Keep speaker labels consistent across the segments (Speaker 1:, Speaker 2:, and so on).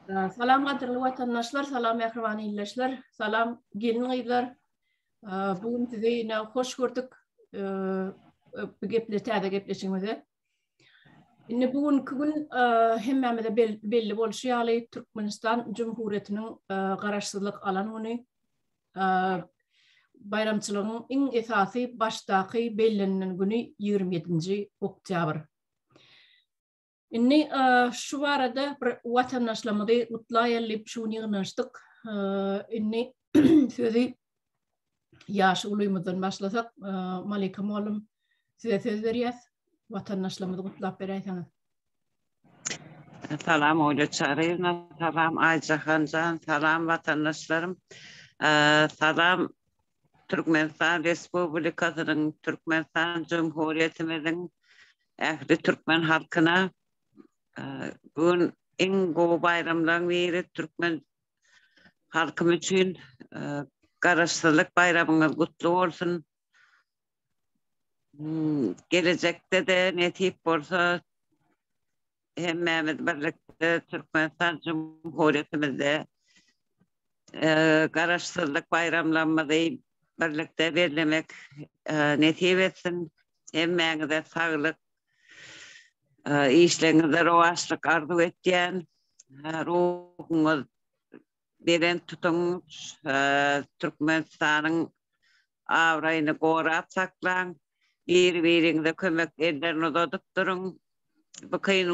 Speaker 1: Salam gadyrly watandaşlar, salam mähriban ildeşler, salam gelin-gyzlar. Bu gün sizi ýene hoş gördük. Bu geple täze gepleşigimize. Indi bu günki gün hemmämize belli bolşy ýaly Türkmenistan Jumhuriyetiniň garaşsyzlyk alan güni. baýramçylygyň iň esasy başdaky bellenilen güni ýigrimi ýedinji oktýabr. Indi şu barada bir watandaşlarymyzy gutlaýaly diýip şu gün ýygnanyşdyk. Indi sözi ýaşy ulymyzdan başlasak, Malika mugallym size söz berýäs. Watandaşlarymyzy gutlap beräýseňiz. Salam Olýa Çaryýewna, salam Aýjahan jan, salam watandaşlarym, salam Türkmenistan Respublikasynyň, Türkmenistan Jumhuriýetimiziň ähli türkmen halkyna. Bu gün iň gowy baýramlaryň biri türkmen halkym üçin Garaşsyzlyk baýramyňyz gutly bolsun. Gelejekde-de nesip bolsa hemmämiz birlikde Türkmenistan Jumhuriýetimizde Garaşsyzlyk baýramlarymyzy birlikde bellemek nesip etsin. Hemmäňize saglyk, işleriňizde rowaçlyk arzuw etýän. Ruhuňyz belent tutuň. Türkmenistanyň abraýyny gorap saklaň, biri-biriňize kömek ellerini uzadyp duruň. Bu kyn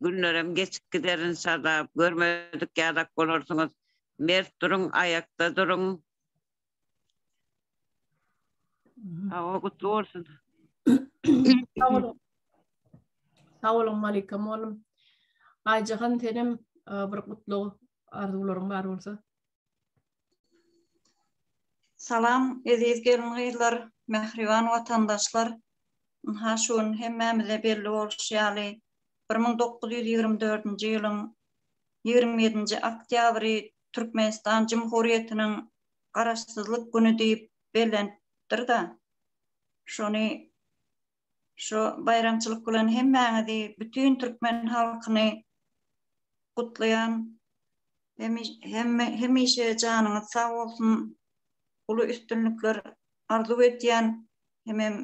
Speaker 1: günlerem geçip gider enşalla, görmedik ýadak bolarsyňyz. Mert duruň, aýakda duruň. Hawa, gutly bolsun. Sagalom aleykum oglum. Aýjahan senem bir gutlag arzuwlaryň bar bolsa. Salam, eziz gelin-gyzlar, mähriban watandaşlar! Ynha, şu gün hemmämize belli bolşy ýaly, bir müň dokuz ýüz ýigrimi dördünji ýylyň ýigrimi ýedinji oktýabry Türkmenistan Jumhuriýetiniň Garaşsyzlyk güni diýip bellenipdir-de, şony Şu baýramçylyk bilen hemmäňizi, bütin türkmen halkyny gutlaýan. Hemişe janyňyz sag bolsun, uly üstünlikler arzuw edýän. Hemem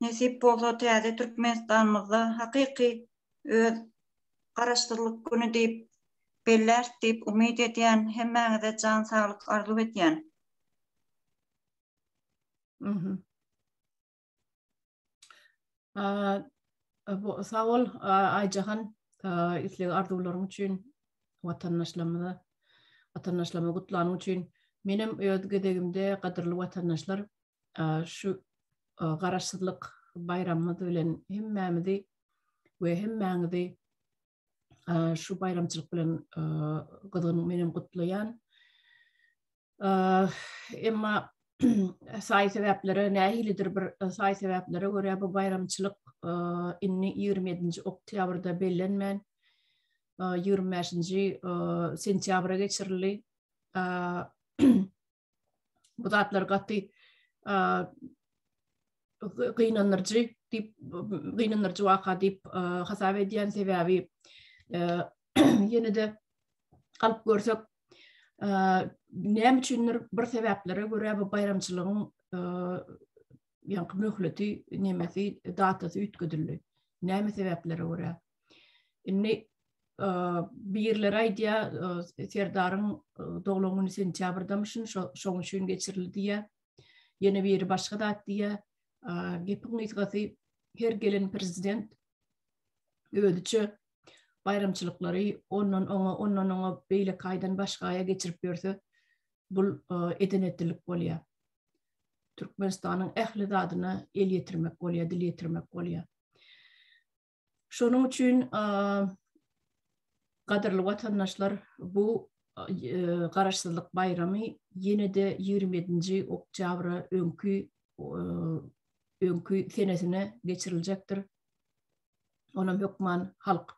Speaker 1: nesip bolsa täze Türkmenistanymyzda hakyky öz Garaşsyzlyk güni diýip belläris diýip umyt edýän. Hemmäňize jan saglyk arzuw edýän. Sag bol, Aýjahan, isleg-arzuwlaryň üçin, watandaşlarymyza, watandaşlarymyzy gutlanyň üçin. Menem öz gezegimde, gadyrly watandaşlar, şu Garaşsyzlyk baýramymyz bilen hemmämizi we hemmäňizi Şu baýramçylyk bilen gyzgyn menem gutlaýan. Emma saý sebäplere nähilidir bir saý sebäplere görä bu baýramçylyk indi 27-nji oktýabrda bellenmän 25-nji sentýabra geçirildi. bu zatlar gaty gynandyryjy diýip gynandyryjy waka diýip hasap edýän sebäbi ýene-de galyp görsek näme üçindir bir sebäplere görä bu baýramçylygyň ýaňky möhleti nemesi datasy üýtgedildi näme sebäplere görä Indi birler aýdýa Serdaryň doglan güni sentýabrdamyşyn, şoň üçin geçirildi diýýä. Ýene biri başga zat diýýä. Gepiň gysgasy her gelen prezident özüçe baýramçylyklary ondan oňa, ondan oňa beýle kaýdan başgaýa geçirip ýörse, bul edenetilik bolýa. Türkmenistanyň ähli zadyna el ýetirmek bolýa, dil ýetirmek bolýa. Şonuň üçin gadyrly watandaşlar bu garaşsyzlyk baýramy ýene-de 27-nji oktýabra öňki öňki senesine geçiriljekdir. Onam hökman halk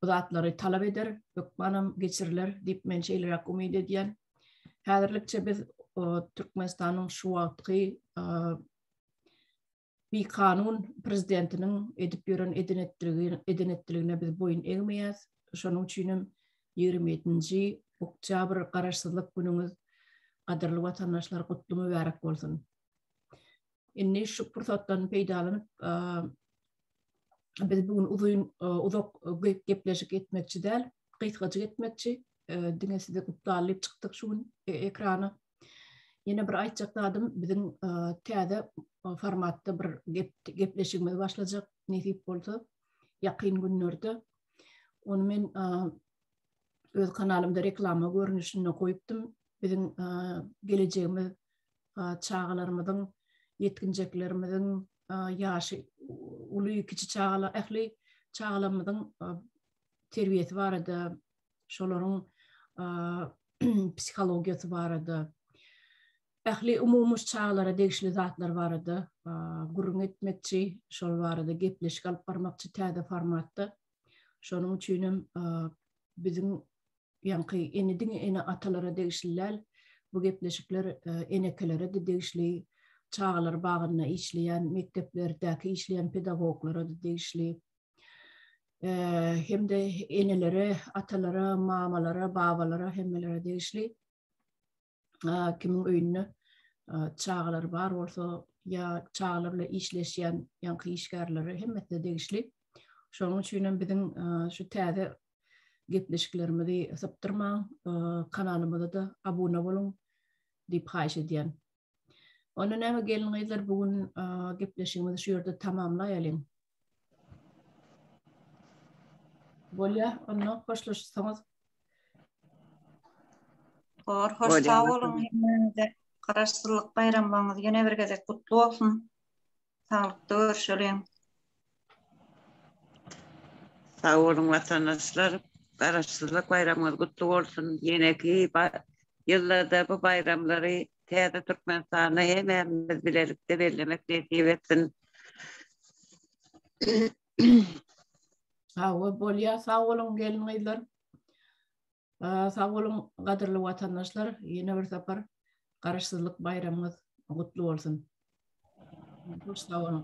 Speaker 1: bu zatlary talap eder, hökmanam geçiriler diýip men şeýleräk umyt edýän. Häzirlikçe biz Türkmenistanyň şu wagtky Bikanun prezidentiniň edip ýören eden-etdiligine biz boýun egmeýäs. Şonuň üçin hem ýigrimi ýedinji oktýabr Garaşsyzlyk günüňiz, gadyrly watandaşlar, gutly mübärek bolsun! Indi şu pursatdan peýdalanyp, biz bu gün uzyn, uzak gepleşik etmekçi däl, gysgajyk etmekçi. Diňe sizi gutlalyp çykdyk şu gün ekrana. Ýene bir aýtjak zadym biziň täze formatda bir gepleşigimiz başlajak nesip bolsa ýakyn günlerde. Ony men öz kanalymda reklama görnüşinde goýupdym. Biziň gelejegimiz çagalarymyzyň, ýetginjeklerimiziň, ýaşy uly, kiçi çagalar, ähli çagalarymyzyň terbiýesi barada şolaryň psihologiýasy barada, ähli umumy çagalara degişli zatlar barada gürrüň etmekçi, şol barada gepleşik alyp barmakçy täze formatda. Şonuň üçin hem biziň ýaňky ene diňe ene atalara degişli däl, bu gepleşikler enekelere-de degişli, çagalar bagynda işleýän, mekdeplerdäki işleýän pedagoglara-da degişli. hem-de enelere, atalara, mamalara, babalara, hemmelere degişli. Kimiň öýünde çagalar bar bolsa, ýa çagalar bilen işleşýän ýaňky işgärlere hemmesine degişli. Şonuň üçin hem biziň şu täze gepleşiklerimizi sypdyrmaň, kanalymyza da abuna boluň diýip haýyş edýän. Onda näme gelin gyzlar bu gün gepleşigimizi şu ýerde tamamlaýalyň. Bolýa, onda hoşlaşsaňyz. Hor, hoş sag boluň. Garaşsyzlyk baýramlaryňyz ýene bir gezek gutly bolsun. Saglykda görşeliň. Sag boluň watandaşlar. Garaşsyzlyk baýramyňyz gutly bolsun. Ýeneki ýyllarda bu baýramlary täze Türkmenistanda hemämiz bilelikde bellemek nesip etsin. Hawa bolýar sag boluň gelin gyzlar. Sag boluň, gadyrly watandaşlar, ýene bir sapar Garaşsyzlyk baýramyňyz gutly bolsun. Hoş sag boluň.